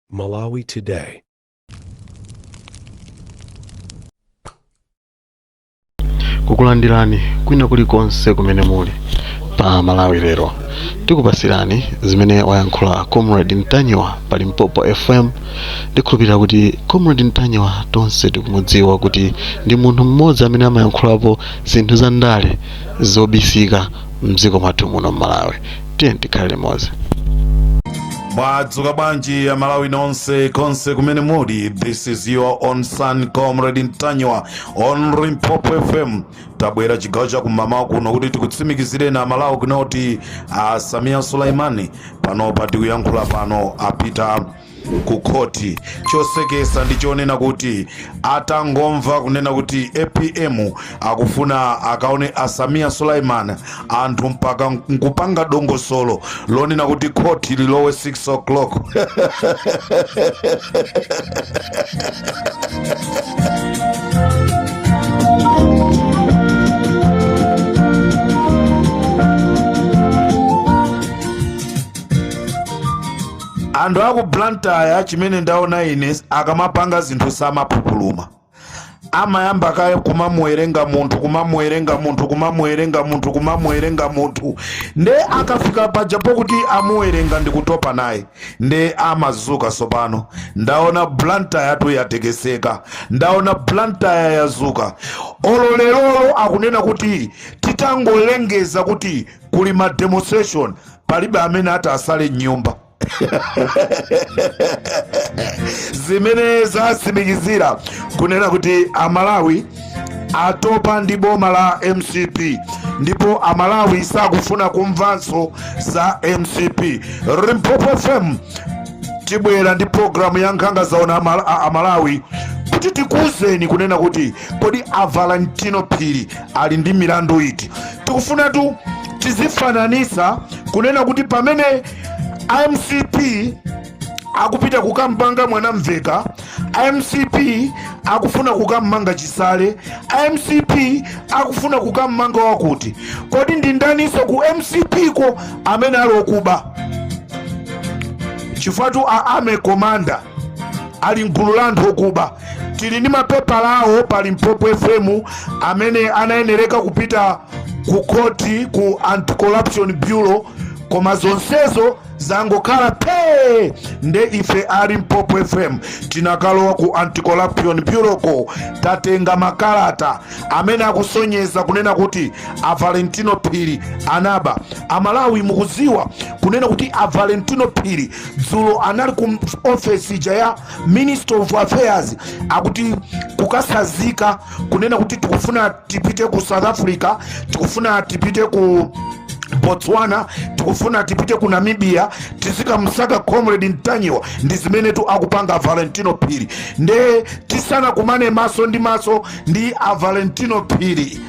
Malawi Today. kukulandirani kwina kulikonse kumene muli pa malawi lero tikupasirani zimene wayankhula comrade ntanyiwa pa limpopo fm ndikhulupirira kuti comrade ntanyiwa tonse tikumudziwa kuti ndi munthu mmodzi amene amayankhulapo zinthu za ndale zobisika mdziko mwathu muno mmalawi tiyeni tikhale limodzi mwadzuka bwanji amalawi nonse konse kumene muli this is your own son comrade ntanyiwa on limpopo fm tabwera chigawo cha kumamawa kuno kuti tikutsimikizireni amalawi kunena kuti a sameer suleman panopa tikuyankhula pano apita ku khoti. Choseketsa ndi chonena kuti atangomva kunena kuti apm akufuna akaone a Sameer Suleman anthu mpaka nkupanga dongosolo lonena kuti khoti lilowe 6 o'clock anthu aku blantyre chimene ndaona ine akamapanga zinthu samaphupuluma amayamba kaye kumamuwerenga munthu kumamuwerenga munthu kumamuwerenga munthu kumamuwerenga munthu nde akafika pajapo kuti amuwerenga ndikutopa naye nde amadzuka sopano ndaona blantyre yathu yatekeseka ndaona blantyre yadzuka olo lerolo akunena kuti titangolengeza kuti kuli ma demonstration palibe amene ati atsale mnyumba zimene zatsimikizira kunena kuti amalawi atopa ndi boma la mcp ndipo amalawi sakufuna kumvanso za mcp limpopo fm tibwera ndi programu ya nkhanga zaona Amala- a- amalawi kuti tikuwuzeni kunena kuti kodi avalentino phiri ali ndi milandu iti tikufunatu tizifananitsa kunena kuti pamene a mcp akupita kukammanga mwanamvekha a mcp akufuna kukammanga chisale a mcp akufuna kukammanga wakuti kodi ndi ndaniso ku mcp ko amene ali okuba chifukwatu a army commander ali mgulu la anthu okuba tili ndi mapepala awo pa limpopo fm amene amayenereka kupita ku khoti ku anti-corruption bureau koma zonsezo zangokhala phee nde ife a limpopo fm tinakalowa ku anti-corruption bureau ko tatenga makalata amene akusonyeza kunena kuti a valentino phiri anaba amalawi mukuziwa kunena kuti a valentino phiri dzulo anali ku ofesi ija ya minister of affairs akuti kukatsanzika kunena kuti tikufuna tipite ku south africa tikufuna tipite ku botswana tikufuna tipite ku namibia tizikamsaka comrade ntanyiwa ndi zimenetu akupanga valentino phiri nde tisanakumane maso ndi maso ndi a valentino phiri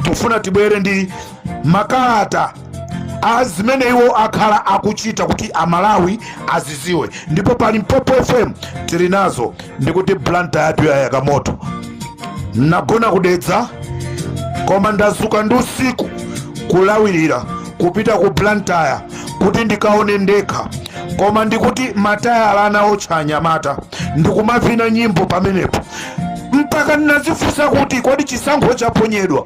tikufuna tibwere ndi makalata a zimene iwo akhala akuchita kuti amalawi aziziwe ndipo pa limpopo fm tili nazo ndikuti blantyre yathu yayaka moto ndagona ku dedza koma ndazuka ndi usiku kulawirira kupita ku blantyre kuti ndikaone ndekha koma ndikuti matayala anaotcha anyamata ndikumavina nyimbo pamenepo mpaka ndinazifunsa kuti kodi chisankho chaponyedwa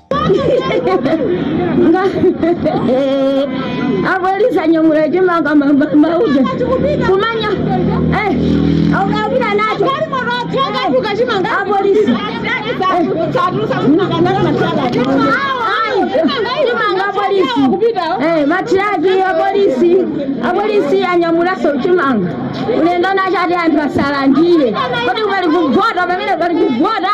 nga apolisi anyamula chimanga mauja kumanya aukavina nacho apolisi chimanga apolisi matiraki apolisi apolisi anyamulaso chimanga ulendo nacho ati anthu asalandire kodi pali kuvota pamene pali kuvota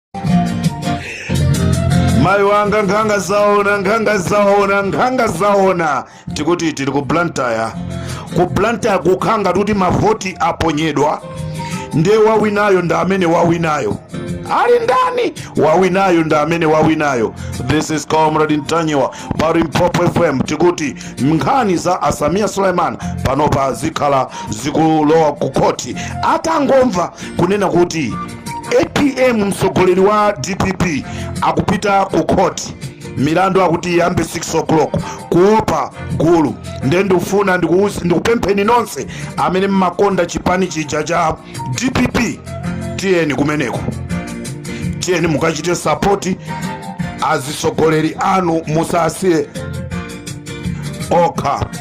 mayi wanga nkhanga zaona nkhanga zaona nkhanga zaona tikuti tili ku blantyre ku blantyre kukhala ngati kuti mavoti aponyedwa ndiye wawinayo ndi amene wawinayo ali ndani wawinayo ndi amene wawinayo this is comrade ntanyiwa pa limpopo fm tikuti nkhani za asamiya suleiman panopa zikhala zikulowa ku khoti atangomva kunena kuti apm mtsogoleri wa dpp akupita ku khoti milandu akuti iyambe 6 o'clock kuopa gulu nde ndikufuna ndikuuzi- ndikupempheni nonse amene mmakonda chipani chija cha dpp tiyeni kumeneko tiyeni mukachite sapoti azitsogoleri anu musasiye okha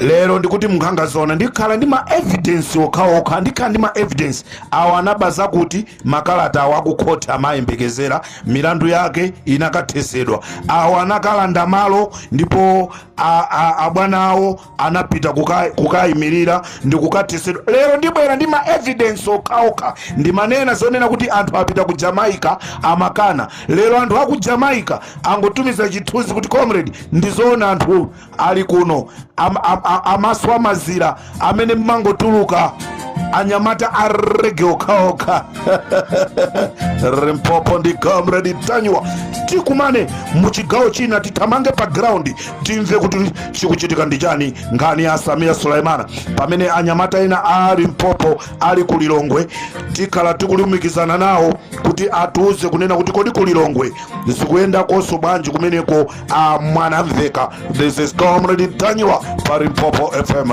lero ndikuti nkhanga zaona ndikhala ndi ma evidence okhaokha ndikhala ndi ma evidence awo anaba zakuti makalata awo akukhoti amayembekezera milandu yake inakathesedwa awo anakalanda malo ndipo a- a- abwana awo anapita kuka- kukayimirira ndi kukathesedwa lero ndibwera ndi ma evidence okhaokha ndimanena zonena kuti anthu apita ku jamaica amakana Lero anthu aku Jamaica angotumiza chithunzi kuti comrade ndizoona anthu ali kuno am, am, am, amaso amazira amene mmangotuluka anyamata a reggae okhaokha Limpopo ndi comrade Ntanyiwa tikumane muchigawo china tithamange pa ground timve kuti chikuchitika ndi chani nkhani ya a Sameer Suleman pamene anyamata ena a limpopo ali ku lilongwe tikhala tikulumikizana nawo kuti atiuze kunena kuti kodi ku lilongwe zikuyendakonso bwanji kumeneko a mwanamveka this is comrade Ntanyiwa pa limpopo fm